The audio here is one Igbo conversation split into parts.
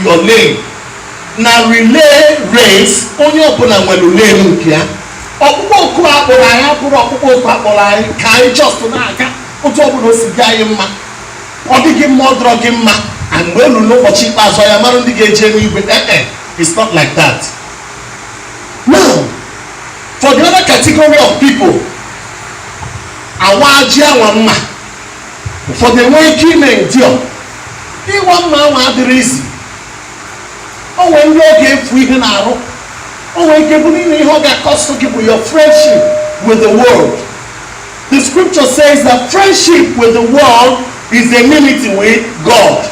your lane na relay race onye ọbụla nwere lane nke ya ọkpụkpọ oku akpọrọ anyị abụrọ ọkpụkpọ oku akpọrọ anyị ka anyị just na-aga otu ọbụla o si dị anyị mma ọ dị gị mma ọ dịrọ gị mma and mgbe elu n'ụbọchị ikpeazụ ya mara ndị ga-eje n'igwe ee it's not like that now for the other category of people awa ji anwa mma ụfọdụ enweghị ike ime endure ịwa mma anwa adịrọ easy o nwee ndị ọ ga-efu ihe n'arụ o nwee ike bụrụ n'ime ihe ọ ga-acost gị bụ your friendship with the world the scripture says that friendship with the world is enmity with God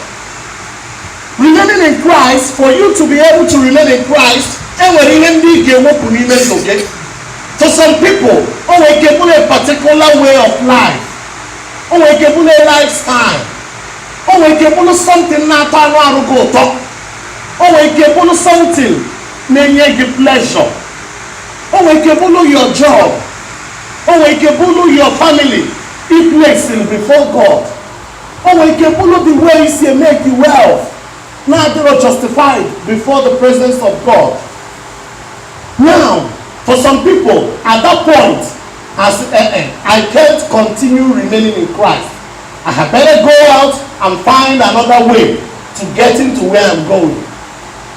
remaining in Christ for you to be able to remain in Christ enwere ihe ndị ị ga-ewepụ n'ime ndụ gị for some people o nwere ike bụrụ a particular way of life o nwere ike bụrụ lifestyle o nwere ike bụrụ something na-atọ anụ arụ gị ụtọ o nwere ike bụrụ something na-enye gị pleasure o nwere ike bụrụ your job o nwere ike bụrụ your family i placing before God o nwere ike bụrụ the way i si emake wealth na-adịrọ justified before the presence of God now for some people at that point ha sị, eh, eh, I can't continue remaining in Christ. I had better go out and find another way to getting to where I'm going.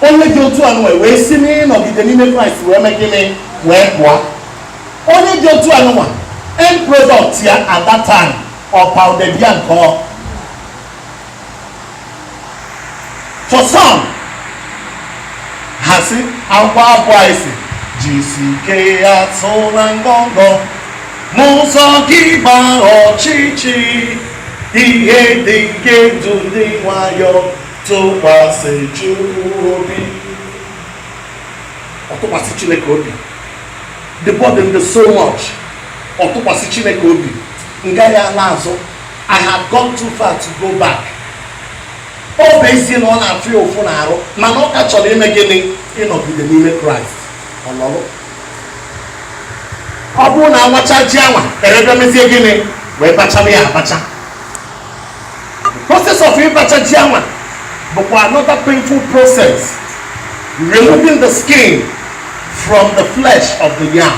Onye dị otu anwa wee si n'ịnọgide n'ime Kraịst wee mee gịnị wee pụọ. Onye dị otu anwa end product ya at that time ọ pounded yam ka ọ. for some ha sị akwụkwọ abụ anyị sị jisi ike asụla ngọngọ m'ụzọ gị gba ọchịchị ihe dị nke edu ndị nwayọọ tụkwasị Chukwu obi ọ tụkwasị Chineke obi the burden dị so much ọ tụkwasị Chineke obi m gaghị ala azụ I have gone too far to go back. Ọ bụ ezie na ọ na-afụ ya ụfụ n'arụ mana ọ ka chọrọ ime gịnị ịnọgide n'ime Kraịst. Ọ bụrụ na awacha ji anwa e wee bịa mezie gịnị wee bachaa ya abacha. The process of ịbacha ji anwa bụkwa another painful process removing the skin from the flesh of the yam.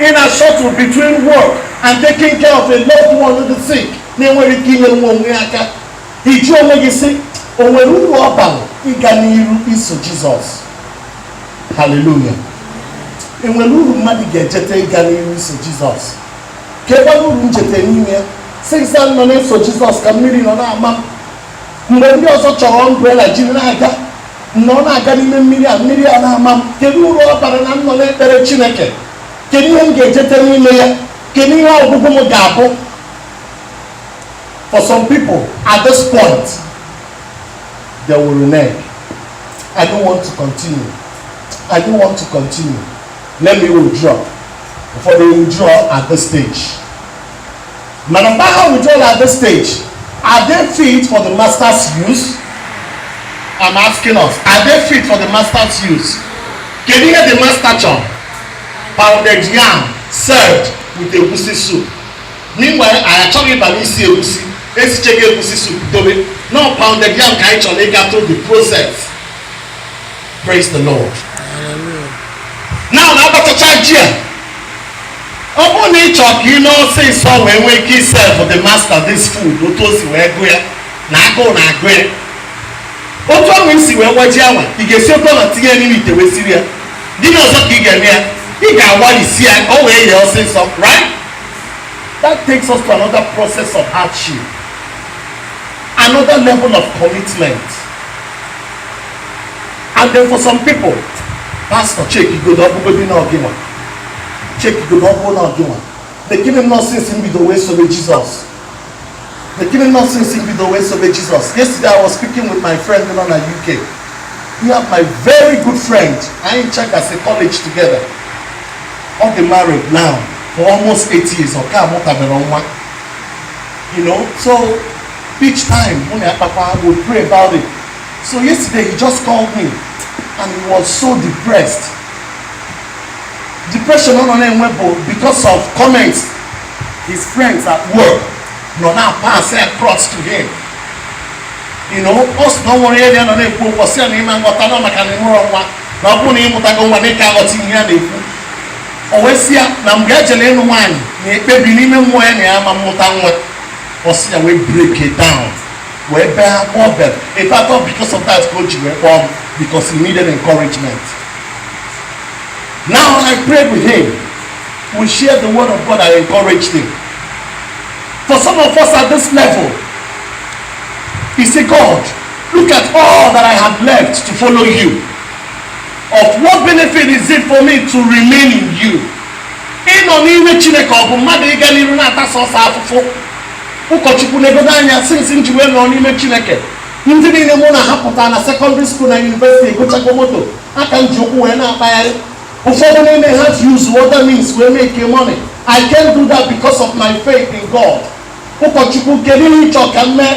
Ị na shuttle between work and taking care of a loved one who is sick na-enwerọ ike inyere onwe ya aka ị jụọ onwe gị sị o nwere uru ọ bara ịga n'iru iso Jizọs haleluya e nwere uru mmadụ ga-ejete ịga n'iru iso Jizọs kekwa uru m jete n'ime ya since m nọ na-eso Jizọs ka mmiri nọ na-ama mgbe ndị ọzọ chọrọ umbrella jiri na-aga m nọ na-aga n'ime mmiri a mmiri a na-ama m kedu uru ọ bara na m nọ na-ekpere chineke kedu ihe m ga-ejete n'ime ya kedu ihe ọgwụgwụ m ga-abụ for some people at this point they will renege i don't want to continue i don't want to continue let me withdraw ụfọdụ withdraw at this stage mana mgbe ha withdraw at this stage are they fit for the master's use I'm asking us are they fit for the master's use kedu ihe the master chọrọ pounded yam served with egusi soup meanwhile anyị achọghị ịba n'isi egusi esichago egusi soup dobe no pounded yam ka anyị chọrọ ịga through the process Praise the Lord. Now na abachaa ji a ọ bụrụ na ị chọọ ka ị mee ọsịsọ wee nwee ike iserve the master this food otu o si wee gụ ya na agụụ na-agụ ya otu ahụ i si wee waa ji awa ị ga-esi oke ọla tinye ya n'ime ite wee siri ya gịnị ọzọ ka ị ga-eme ya ị ga-awarisi ya ka o wee yee ọsịsọ right that takes us to another process of hardship another level of commitment and then for some people pastor checkie godu ọ bụgodi na ọ gịnwa checkie godu ọ bụ na ọ gịnwa lekene ihe m nọ since m bido wee sobe jizọs lekene ihe m nọ since m bido wee sobe jizọs yesterday i was speaking with my friend nọ na uk ya bụ my very good friend anyị jekọrọ college together ọ dị married now for almost eight years ọ ka amụtabere nwa you know so each time mụ na ya kpakwa we pray about it So yesterday he just called me and he was so depressed. Depression ọ nọ na-enwe bụ because of comments his friends at work nọ na-apass across to him. You know, ọ sị na o nwere onye nọ na-ekwu okwu sị na ị ma aghọta na maka na ị mụrọ nwa na ọ bụrụ na ị mụtago nwa na ị ka aghọta ihe a na-ekwu o wee sị ya na mgbe ya jere ịnụ nwaanyị na-ekpebi n'ime mmụọ ya na ya ama amụta nwa ọ sị ya wee break down wee bee akwa ọ bere in fact ọ because of that ka o ji wee kpọọ m because he needed encouragement now i prayed with him we shared the word of god i encouraged him for some of us at this level he say god look at all that i have left to follow you of what benefit is it for me to remain in you ịnọ n'ime chineke ọ bụ mmadụ ịga n'iru na-ata sọsọ afụfụ ụkọchukwu negodo anya since m ji wee nọrọ n'ime chineke ndị niile mụ na ha pụtara na secondary school na university egochago moto a ka m ji ụkwụ wee na-akpagharị ụfọdụ n'ime ha ji use whatever means wee make money i can't do that because of my faith in god ụkọchukwu kedu ihe ị chọ ka m mee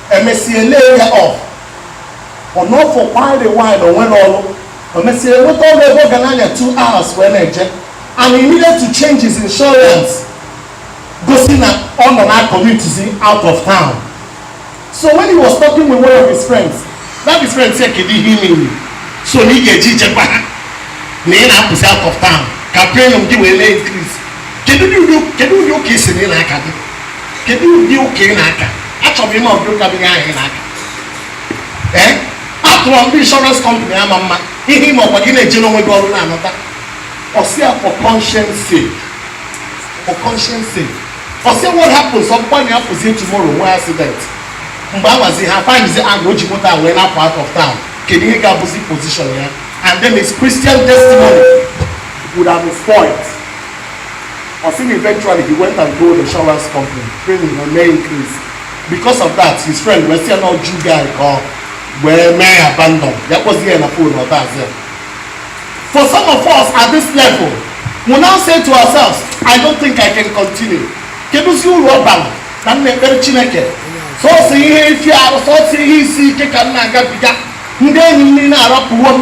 emesịa lay ya off ọ nọ for quite a while o nwerọ ọrụ emesịa enweta ọrụ ebe ọ ga na-anya two hours wee na-eje and he needed to change his insurance gosi na ọ na-commutezi out of town so when he was talking with one of his friends that his friend say kedu ihe ị mean so na ị gazị eje gwa ha na ị na-apụzi out of town ka premium gị wee na-increase kedu ụdị ụdị- kedu ụdị ụka ị sị na ị na-aka gị kedu ụdị ụka ị na-aka achọrọ m ịma ụdị ụka dị ahụ ị na-aka ee after all ndị insurance company ama mma ihe ị ma ọkwa gị na-eje n'onwe gị ọrụ na-anọta ọ sị ya for conscience sake for conscience sake ọ sị what happens ọ bụkwa na apụzie tomorrow nwee accident mgbe ahụzi ha findzie out o ji moto a wee na-apụ out of town kedu ihe ga-abụzi position ya and then his christian testimony would have been spoiled Ọ sị na eventually he went and told the insurance company premium ya mee increase because of that his friend wee sị ya na ọ jew guy ka ọ wee mee abandon ya kpọzie ya na phone ọ dazi ya for some of us at this level we now say to ourselves i don't think i can continue kedụzi uru ọ bara na m na-ekpere chineke sọsọ ihe efi arụ sọsọ ihe isi ike ka m na-agabiga ndị enyi m niile arapụwo m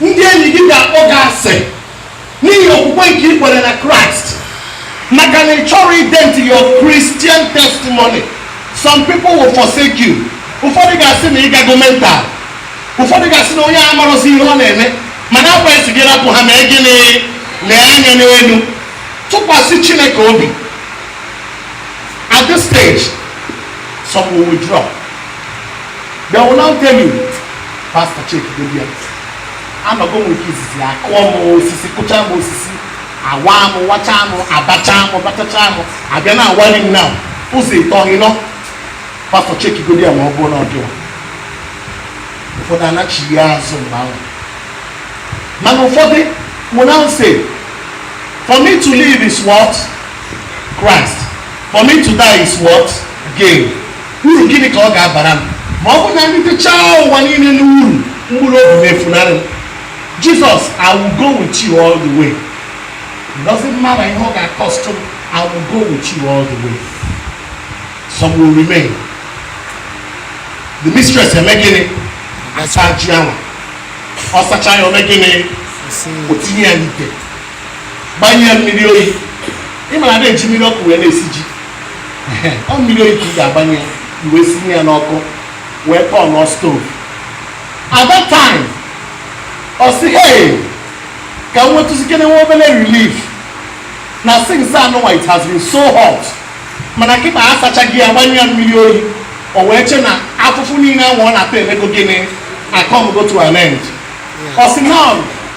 Ndị enyi gị ga-akpọ gị asị n'ihi okwukwe nke ị kwere na Kraịst maka na ị chọrọ ident your Christian testimony. Some people will forsake you. Ụfọdụ ga-asị na ịgago mental. Ụfọdụ ga-asị na onye a amarọzi ihe ọ na-eme mana akwa esi gị rapụ ha mee gịnị nee anya n'elu tụkwasị Chineke obi at this stage some will withdraw they will now tell you pastọ chekigodi ya anọgo m nke izizi akụọ m osisi kụcha m osisi awa m wacha m abacha m bachacha m abịa na awari m na ụzọ ịtọ ịnọ pastọ chekigodi ya ma ọ bụrụ na ọ gịwa ụfọdụ anachigha azụ mgbe ahụ mana ụfọdụ will now say for me to live is what christ for me to die is what gain Uru gịnị ka ọ ga-abara m ma ọ bụrụ na m ritechaa ụwa niile n'uru mkpụrụ obi na-efunarị m? Jesus I will go with you all the way. It doesn't matter ihe ọ ga-acost m, I will go with you all the way. Some will remain. The mistress eme gịnị? Asa ji anwa. Ọ sacha ya o mee gịnị? O tinye ya n'ite. gbanye ya mmiri oyi ị ma na adị eji mmiri ọkụ wee na-esi ji ọ mmiri oyi ka ị ga-agbanye ya ị wee sinye ya n'ọkụ wee kpọọ nọ stove at that time ọ sị hey ka m nwetụzikene nwa obere relief na since anụnwa it has been so hot mana kịta asachago ya gbanye ya mmiri oyi o wee che na afụfụ niile ahụ ọ na-ata emego gịnị acomego to an end ọ sị now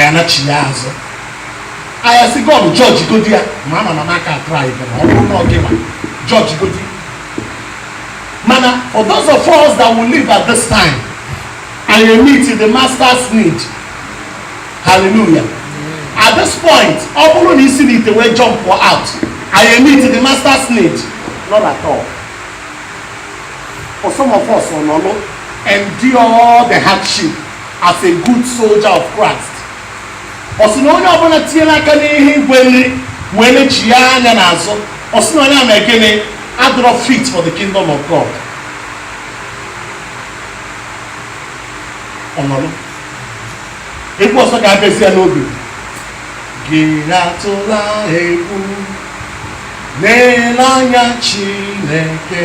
ya anachigha azụ ya asị god jọji godi ya ma ama na n'aka atụrụ anyị bịara ọ bụrụ na ọ gịwa jọji godi mana for those of us that will leave at this time ị ya-emeet the master's need hallelujah at this point ọ bụrụ na i si n'ite wee jump out ị ya-emeet the master's need not at all for some of us ọ nọrọ endure the hardship as a good soldier of Christ ọ sị na onye ọbụla tinyere aka n'ihe igwe nri wee lechigha anya n'azụ ọ sị na onye ahụ mee gịnị adịrọ fit for the kingdom of God ọ nọrọ egwu ọzọ ga-abịazi ya n'obi gị atụla egwu na-ele anya Chineke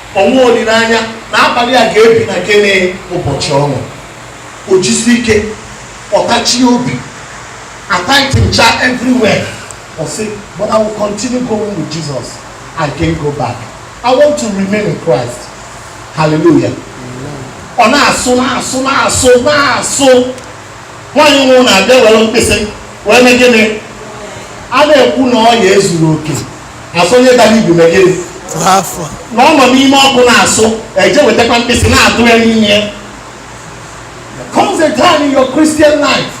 O nwe olileanya na abalị a ga-ebi na gịnị ụbọchị ọṅụ o jisie ike ọ tachie obi ataitinchaa everywhere ọ sị but I will continue going with Jesus I can't go back I want to remain in Christ hallelujah ọ na-asụ na-asụ na-asụ na-asụ nwaanyị nwe ụnọ abịa were mkpịsị wee mee gịnị a na-ekwu na ọ ya ezuru oke a sị onye dara ibi mee gịnị afọ na ọ nọ n'ime ọkụ na-asụ e jee wetakwa mkpịsị na-adụ ya n'ime ya There comes a time in your Christian life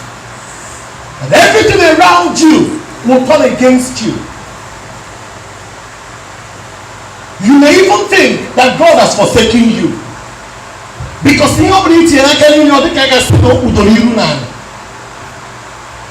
and everything around you will turn against you you may even think that God has forsaken you because ihe ọ bụla i tinyere aka n'ime ọ dịka a ga-asị na o kpudoro iru n'ala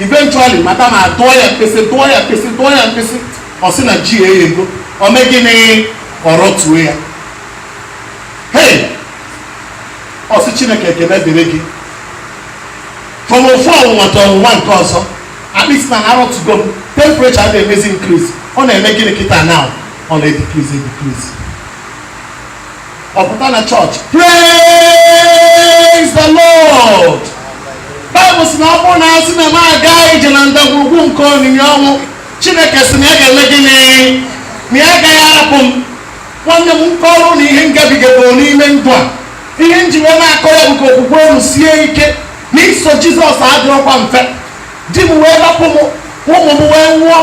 eventually madam adụọ ya mkpịsị dụọ ya mkpịsị dụọ ya mkpịsị ọ sị na ji eghego ọ mee gịnị ọ rọtuo ya hey ọ sị chineke ekele dịrị gị from ofu ọnwụnwa to ọnwụnwa nke ọzọ at least na a rọtugo m temperature adịghị emezi increase ọ na-eme gịnị kịta now ọ na-edecrease edecrease ọ pụta na chọọchị praise the lord baịbụl sị na ọ bụrụ na a sị na m aga ije na ndagwurugwu nke onyinyo ọnwụ chineke sị na ya ga-eme gịnị na ya agaghị arapụ m nwanne m m kọrọ unu ihe m gabigaburu n'ime ndụ a ihe m ji wee na-akọ ya bụ ka okwukwe unu sie ike na iso jizọs adịrọkwa mfe di m wee rapụ m ụmụ m wee nwụọ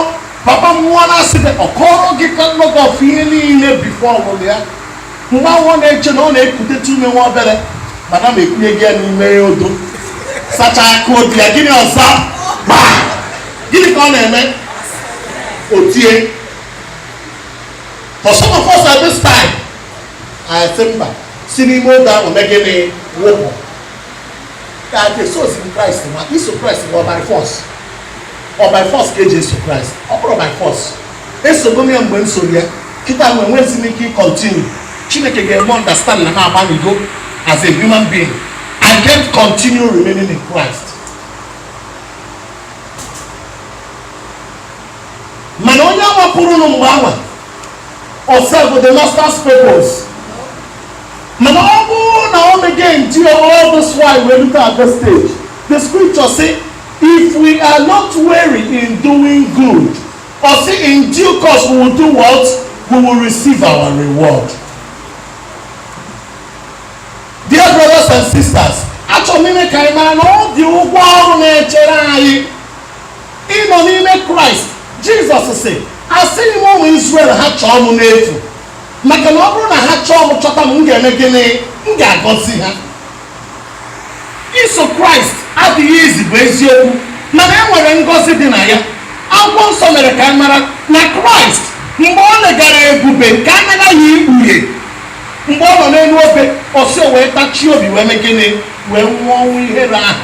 papa m nwụọ na-asị gị ọ kọrọ gị ka nnọgọ ọfụ ihe niile before ọmụmụ ya mgbe ahụ ọ na-eche na ọ na-ekutetu ume nwa obere madam ekunye ya n'ime odo sachaa aka odo ya gịnị ọzọ gbaa gịnị ka ọ na-eme o tie for some of us at this time anyị sị mba si n'ime odo ahụ mee gịnị wụpụ ka a ga-esoziri kraịst ma iso kraịst bụ by force ọ by force ka eji eso kraịst ọ bụrọ by force esogo m ya mgbe m soro ya kịta enwezi m ike ịcontinue chineke ga-eme understand na m agbanigo as a human being i can't continue remaining in christ mana onye agbapụrụ nụ mgbe ahụ ọ serve the master's purpose mana ọ bụrụ na o mego endure all this while wee rute at this stage the scripture say if we are not weary in doing good ọ sị in due course we will do what we will receive our reward dear brothers and sisters achọrọ m ime ka anyị mara na ọ dị ụgwọ ọrụ na-echere anyị ịnọ n'ime kraịst jizọs sị asịghị m ụmụ israel ha chọọ m n'efu maka na ọ bụrụ na ha chọọ m chọta m m ga-eme gịnị m ga-agọzi ha iso kraịst adịghị easy bụ eziokwu mana e nwere ngọzi dị na ya akwụkwọ nsọ mere ka a mara na kraịst mgbe o legara ebube nke a na-aga ikpughe mgbe ọ nọ n'elu obe ọ sị o wee tachie obi wee mee gịnị wee nwụọ ọnwụ ihere ahụ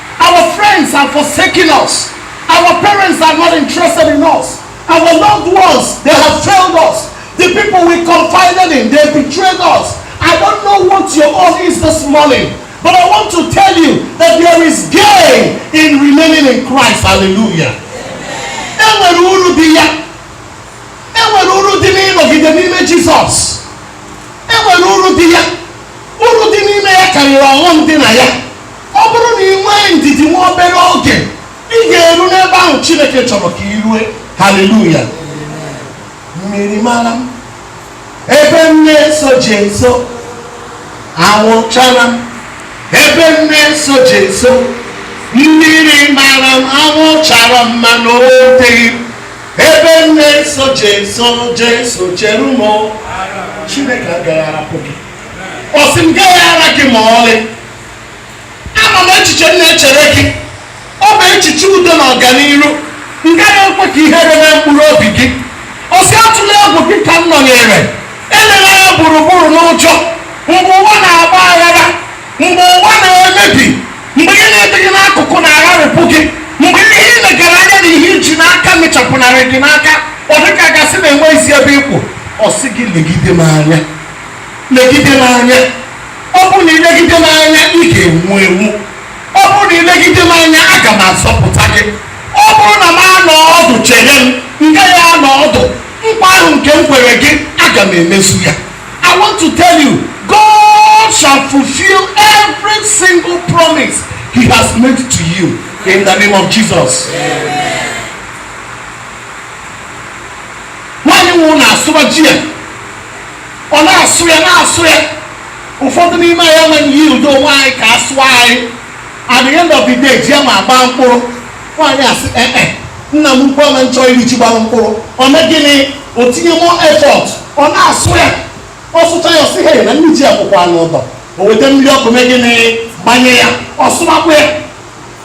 Our friends are forsaking us. Our parents are not interested in us. Our loved ones, they have failed us. The people we confided in, they betrayed us. I don't know what your own is this morning, but I want to tell you that there is gain in remaining in Christ. Hallelujah. Enwere uru dị ya. Enwere uru dị n'ịnọgide n'ime Jizọs. Enwere uru dị ya. Uru dị n'ime ya karịrị ọghọm dị na ya. ọ bụrụ na i nwee ndidi nwa obere oge ị ga-eru n'ebe ahụ chineke chọrọ ka i rue haleluya mmiri mara m ebe m na-eso jeso anwụ chara m ebe m na-eso jeso mmiri mara m anwụ chara m mana o wuteghị m ebe m na-eso jeso jeso chere m o. chineke agaghị arapụ gị ọ sị m gaghị ara gị ma ọlị ama m echiche m na-echere gị ọ bụ echiche udo na ọganiru m gaghị ekwe ka ihere mee mkpụrụ obi gị ọ sị atụla egwu gị ka m nọnyere elela anya gburugburu n'ụjọ mgbe ụwa na-agba aghara mgbe ụwa na-emebi mgbe ihe na-adị gị n'akụkụ na-agharịpụ gị mgbe ihe i legara anya na ihe i ji n'aka mechapụnarị gị n'aka ọ dịka a ga-asị na enweghịzi ebe ị kwụ ọ sị gị legide m anya legide m anya ọ bụrụ na i legide m anya ị ga-enwu enwu ọ bụrụ na i legide m anya aga m azọpụta gị ọ bụrụ na m anọ ọdụ chere m m gaghị anọ ọdụ nkwa ahụ nke m kwere gị aga m emezu ya i want to tell you god shall fulfill every single promise he has made to you in the name of jesus nwaanyị nọrọ na-asụba ji ya ọ na-asụ ya na-asụ ya ụfọdụ n'ime anyị amaghị yield onwe anyị ka a sụọ anyị at the end of the day ji ya ma gbaa mkpụrụ nwaanyị asị ee eh, eh, nna m ukwu ama nchọ iri ji gbara mkpụrụ ọ mee gịnị o tinye more effort ọ na-asụ ya ọ sụcha ya ọ sị he na nne ji ya bụkwa n'ụdọ o weta mmiri ọkụ mee gịnị gbanye ya ọ sụmakwa ya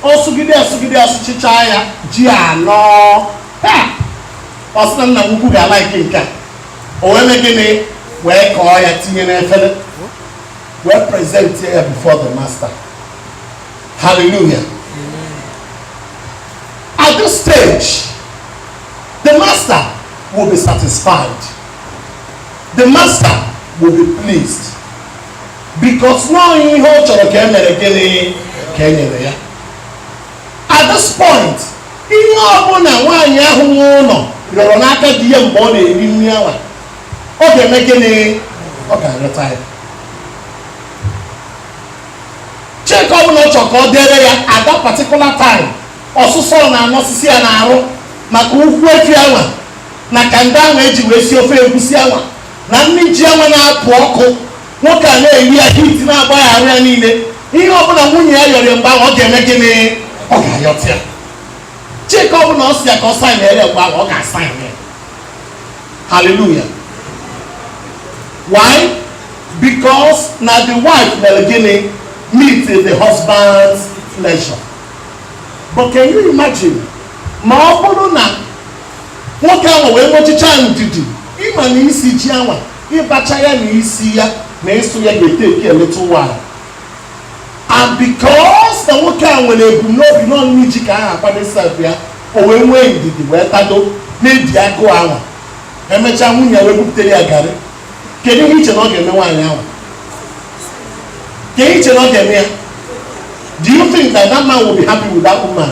ọ sụgide asụgide asụchicha ya ji anọ ọ sị na nna m ukwu ga-alike nke a o wee mee gịnị wee kọọ ya tinye n'efere wee present ya before the master hallelujah at this stage the master will be satisfied the master will be pleased because now ihe ọ chọrọ ka e mere gịnị ka e nyere ya At this point, ihe ọbụla nwaanyị ahụ nwe ụlọ yọrọ n'aka di ya mgbe ọ na-eri nri anwa ọ ga-eme gịnị ọ ga-arịọta ya cheki ọbụla ọ chọrọ ka o deere ya at that particular time ọsụsọ na-anọsisi ya n'arụ maka ukwu efi anwa na kanda ahụ e ji wee si ofe egusi anwa na nri ji anwa na-apụ ọkụ nwoke a na-eri ya heat na-agba ya arụ ya niile ihe ọbụla nwunye ya yọrọ ya mgbe ahụ ọ ga-eme gịnị ọ ga-ayọta ya cheki ọbụla ọ si ya ka ọ saịnere ya mgbe ahụ ọ ga-asaịn ya haleluya why because na the wife mere gịnị meet the husband's pleasure but can you imagine ma ọ bụrụ na nwoke ahụ wee nwechicha ndidi ịma na isi ji anwa ịbacha ya na isi ya na ịsụ ya ga-eteki a little while and because na nwoke a nwere ebumnobi n'ọ nri ji ka a ga-akwado serve ya o wee nwee ndidi wee tado na-edi agụụ anwa emechaa nwunye ya wee buputere ya garị kedu ihe i che na ọ ga-eme nwaanyị ahụ kedu i che na ọ ga-eme ya do you think that that man will be happy with that woman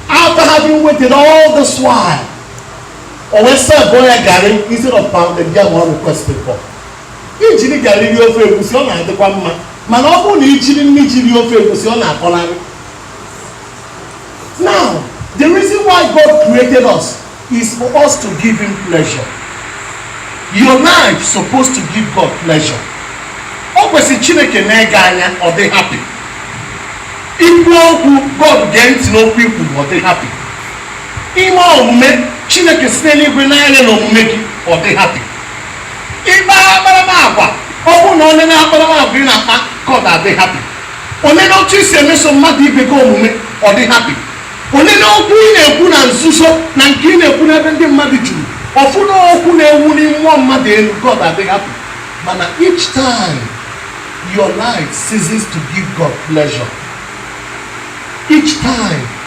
after having waited all this while o wee servuo ya garị instead of pounded yam ọ requested for i jiri garị rie ofe egusi ọ na-adịkwa mma mana ọ bụrụ na i jiri nri ji rie ofe egusi ọ na-akọlarị now the reason why God created us is for us to give him pleasure your life supposed to give God pleasure o kwesịrị Chineke nee gị anya ọ dị happy i kwuo okwu God gee ntị n'okwu i kwu ọ dị happy i mee omume Chineke si n'eluigwe nee anya n'omume gị ọ dị happy ị kpaa akparamagwa ọ bụrụ na o nene akparamagwa ị na-akpa God adị happy o nene otu i si emeso mmadụ ibe gị omume ọ dị happy o nene okwu ị na-ekwu na nzuzo na nke ị na-ekwu n'ebe ndị mmadụ juru ọ fụ na okwu na-ewunite mmadụ elu God adị happy mana each time your life ceases to give God pleasure each time